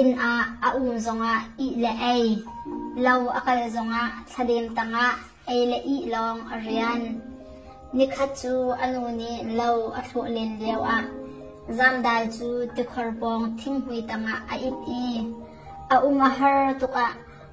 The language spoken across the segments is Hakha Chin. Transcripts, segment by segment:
Inn ah a um zongah ih le ei, lo a kal zongah thladem tangah ei le ih lawng a rian. Nikhat cu a nu nih lo a thlawh len lioah zamdai cu tikhor pawng thinghmui tangah a it i a um a har tuk ah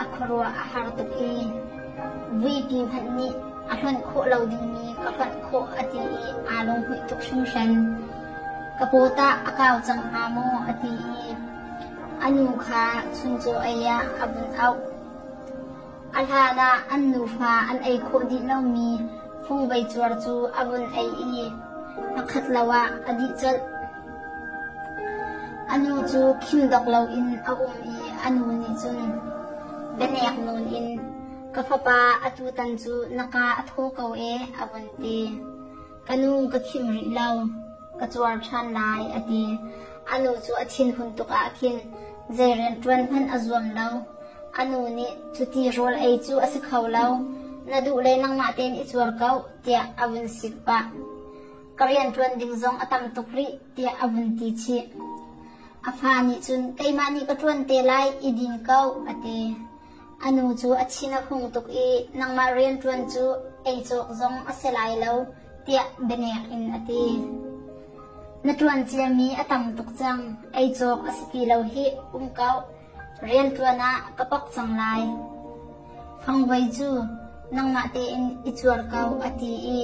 a khuaruah a har tuk i vuipi hmanh nih a hman khawh lo dingmi ka hngalh khawh a ti i aa lunghmuih tuk hringhran. Ka paw tah a kau cang hnga maw a ti i a nu kha chuncaw eiah a vun auh. A hlan ah an nufa an ei khawh dih lomi fungvei cuar cu a vun ei i a khat lo ah a dih colh. A nu cu khim dok loin a um i a nu nih cun, Bianek nawn in, ka fapa atutan cu na ka a thaw ko e, a vun ti. Ka nu ka khim rih lo, ka cuar ṭhan lai, a ti. A nu cu a thinhun tuk ahkhin zei rianṭuan hmanh a zuam lo. A nu nih, Cuti rawl ei cu a si kho lo, na duh le nangmah tein i cuar ko, tiah a vun sik pah. ka rianṭuan ding zong a tam tuk rih tiah a vun ti chih. A fa nih cun keimah nih ka ṭuan te lai i din ko a ti. A nu cu a chin a hung tuk i nangmah rianṭuan cu ei cawk zong a si lai lo tiah bianek in a ti. Na ṭuan ciami a tam tuk cang. Ei cawk a si ti lo hi um ko Rianṭuan ah ka pok cang lai. Fangvei cu nangmah tein i cuar ko, a ti i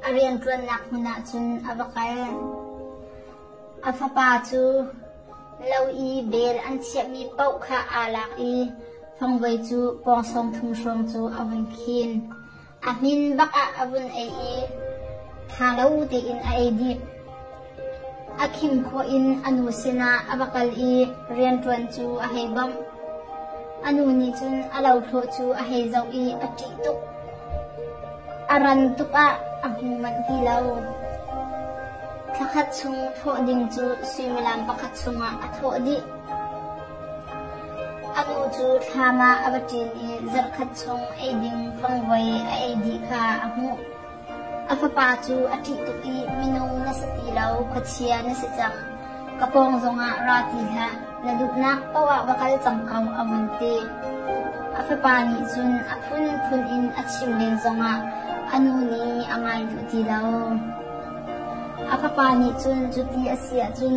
a rianṭuannak hmun ah cun a va kal. A fapa cu lo i bel an chiahmi paoh kha aa lak i fangvei cu pawng sawm thum hrawng cu a vung khin. A hmin bakah a vun ei i thalo tein a ei dih. A khim khawh in a nu sinah a va kal i rianṭuan cu a hei bawmh. A nu nih cun a lothlawh cu a hei zoh i a ṭih tuk. A ran tuk ah a hmu manh ti lo. Thla khat chung thawh ding cu suimilam pakhat chungah a thawh dih. A nu cu thlam ah a va ṭin i zarhkhat chung ei ding fangvoi a ei dih kha a hmuh. A fapa cu a ṭih tuk i minung na si ti lo, khuachia na si cang. Ka pawng zongah ra ti hlah, na duhnak paohah va kal cang ko a vun ti. A fapa nih cun a phunphun in a chim ding zongah a nu nih a ngai duh ti lo. A fapa nih cun cuti a si ahcun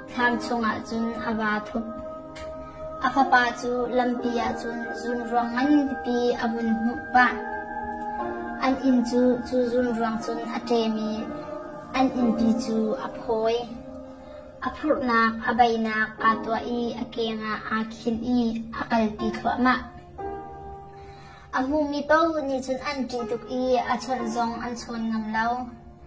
Thlam chungah cun a vaa thup. A fapa cu lampi ah cun zunruang nganpipi a vun hmuh pah. An inn cu cu zunruang cun a ṭem i an innpi cu a phawi. A phurhnak a beinak kaa tuah i a kengah aa khin i a kal ti thluahmah. A hmumi paoh nih cun an ṭih tuk i a chawnh zong an chawn ngam lo.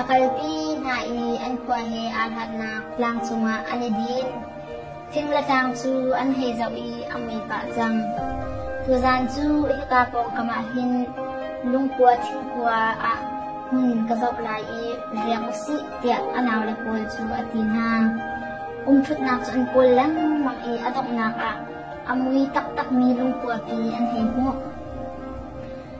A kalpi hna i an khua he aa hlatnak tlang cungah an i din. Thing le tlang cu an hei zoh i a mui pah cang. Tuzan cu hika pawngkam ah hin lungkua thingkua ah hmun ka zoh lai i riak usih tiah a naule pawl cu a ti hna. Umṭhutnak cu an kawl lengmang i a donghnak ah a mui taktakmi lungkua pi an hei hmuh.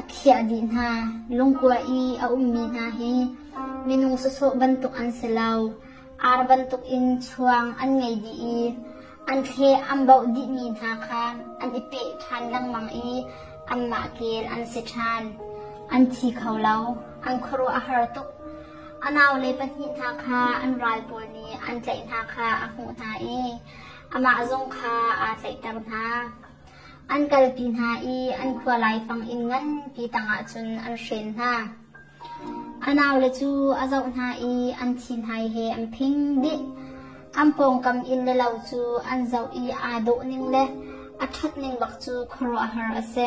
A khiah dih hna. Lungkua i a ummi hna hi minung sawsawh bantuk an si lo. Ar bantuk in chuang an ngei dih i an thli an bauh dihmi hna kha an i peh ṭhan lengmang i anmah kel an si ṭhan. An thi kho lo. An khuaruah a har tuk. A naule pahnih hna kha an ral pawl nih an tlaih hna kha a hmuh hna i amah zong kha aa tlaihter hna. An kalpi hna i an khua laifang inn nganpi tangah cun an hren hna. A naule cu a zoh hna i an thi hna he an phing dih. An pawngkam inn le lo cu an zoh i aa dawh ning le a ṭhat ning bak cu khuaruahhar a si.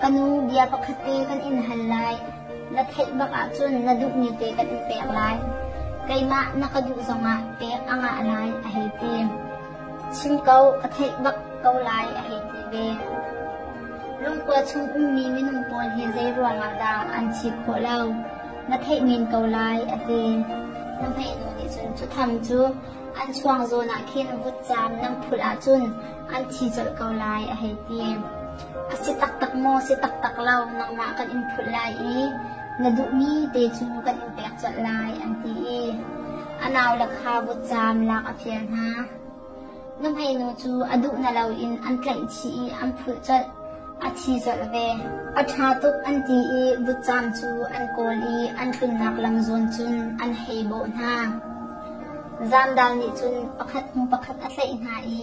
Ka nu bia pakhat te kan in hal lai. Na theih bak ahcun na duhmi te kan in pek lai. Keimah na ka duh zongah pek a ngah lai a hei ti. Chim ko ka theih bak ko lai a hei ti ve. Lungkua chung ummi minung pawl hi zei ruangah dah an thi khawh lo. Na theih men ko lai a ti. Na hmeinu nih cun cu tham cu an chuang zawn ah khin vutcam nan phul ahcun an thi colh ko lai a hei ti. A si taktak maw, si taktak lo, nangmah kan in phulh lai i na duhmi te cu kan in pek colh lai, an ti i a naule kha vutcaam lak a fial hna. Na hmeinu cu a duh na loin an tlaihchih i an phulh colh, a thi zolh ve. A ṭha tuk an ti i vutcaam cu an kawl i an tlunnak lam zawn cun an hei bawh hna. Zamdal nih cun pakhat hnu pakhat a tlaih hna i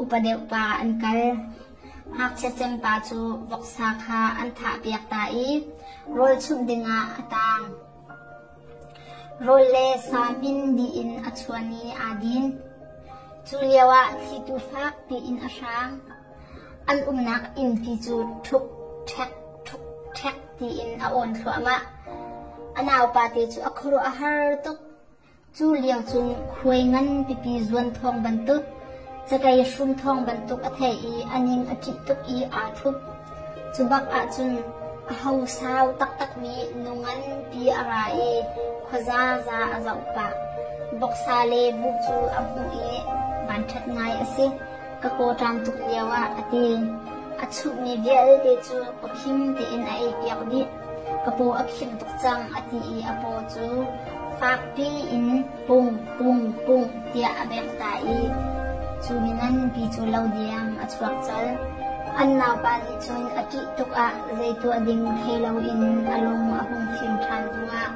Upa deuh pa an kal. Ngakchia cempa cu voksa kha an thahpiak ta i rawl chumh dingah a taang. Rawl le sa min diin a chuan i aa din. Cu lioah thlitu fak piin a hrang. An umnak innpi cu ṭhuk, ṭhek, ṭhuk, ṭhek tiin a awn thluahmah. A naupa te cu a khuaruah a har tuk. Cu lio cu khuai ngan pipi zuan thawng bantuk, cakei hrum thawng bantuk a thei i a ning a ṭih tuk i aa thup. Cubak ahcun a ho sau taktakmi nu nganpi a ra i khuazaza a zoh pah. Voksa le buuk cu a hmuh i vanṭhat ngai a si, ka kawṭam tuk lioah a ti. A chuhmi vialte cu pakhim tein a ei piak dih. Ka paw a khing tuk cang a ti i a paw cu fakpi in pung pung pung tiah a bek ta i cu minan pi cu lo diang a chuak colh. An naupa nih cun a ṭih tuk ah zei tuah ding thei loin a lung a hung fim ṭhan hnuah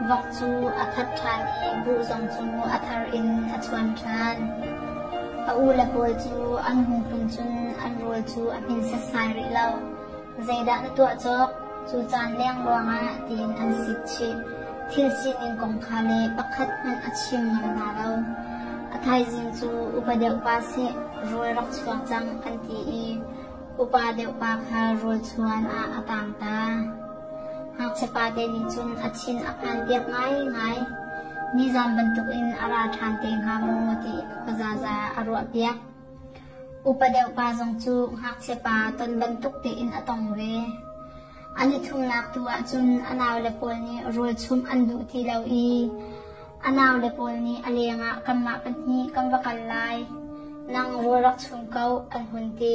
vok cu a khat ṭhan i buh zong cu a thar in a chuan ṭhan. A u le pawl cu an hung phun cun an rawl cu a hmin setsai rih lo. Zeidah na tuah cawk? Cu caan leng ruangah tiin an sit chih. Thil sining kong kha le pakhat hmanh a chim ngam hna lo. A thaizing cu upa deuh pa si rawl rak chuak cang an ti i upa deuh pa kha rawlchuan ah a tang ta. Ngakchia pate nih cun a thin a phan piak ngaingai. Nizan bantukin a ra ṭhan te hnga maw ti khuazaza a ruah piak. Upa deuh pa zong cu ngakchia pa ton bantuk tein a tong ve. An i thumnak tu ahcun a naule pawl nih rawlchumh an duh ti lo i a naule pawl nih a lengah kanmah pahnih kan va kal lai, nang rawl rak chum ko, an hun ti.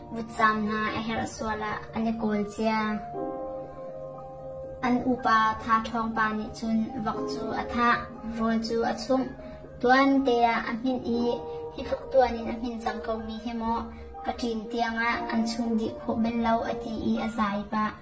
vutcam hna a herh sual ah an i kawl cia. An upa tha ṭhawngpa nih cun vok cu a thah, rawl cu a chumh, tuan te ah a hmin i hi tluk tuan in a hmin cang ko mi hi maw ka ṭin tiang ah an chung dih khawh bel lo a ti i a zai pah.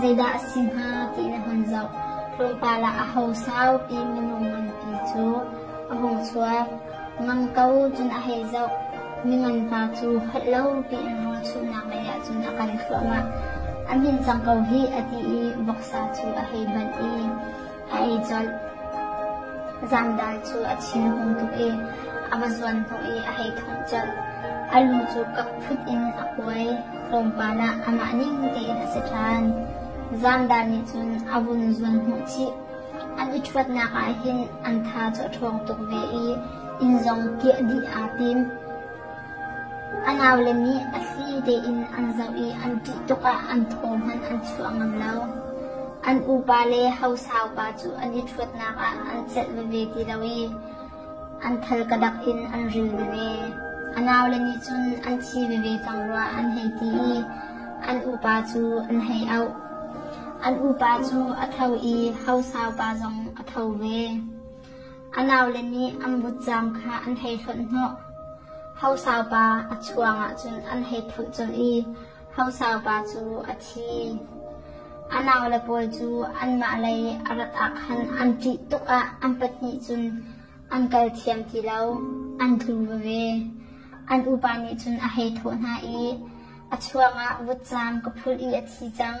Zeidah a si hnga ti na hun zoh. Tlawmpal ah a ho sau ti minung nganpi cu a hung chuak. Ngan ko cun a hei zoh. Mingan pa cu holh lo tiin hawchunnak lei ahcun a kan thluahmah. A min cang ko hih a ti i voksa cu a hei banh i a ei colh. Zamdar cu a thinhung tuk i a va zuanhnawh i a hei thongh colh. A lu cu kakphut in a kuai. Tlawmpal ah amah ning tein a si ṭhan. Zamdar nih cun a vun zuanhnawh chih. An i ṭhuatnak ah hin an tha cu a ṭhawng tuk ve i inn zong kiah dih aa tim. A naule nih a thli tein an zoh i an ṭih tuk ah an thaw hmanh an chuah ngam lo. An upa le hausaupa cu an i ṭhuatnak ah an celh veve ti lo i an thal ka dak in an ril veve. A naule nih cun an thi veve cang rua an hei ti i an upa cu an hei auh. An upa cu a tho i hausaupa zong a tho ve. A naule nih an butzaam kha an hei hlonh hnawh. Hausaupa a chuang ahcun an hei thonh colh i hausaupa cu a thi. A naule pawl cu anmah lei a rat ah khan an ṭih tuk ah an pahnih cun an kal thiam ti lo. An tlu veve. An upa nih cun a hei thawh hna i, a chuangah vutzaam ka phulh i a thi cang.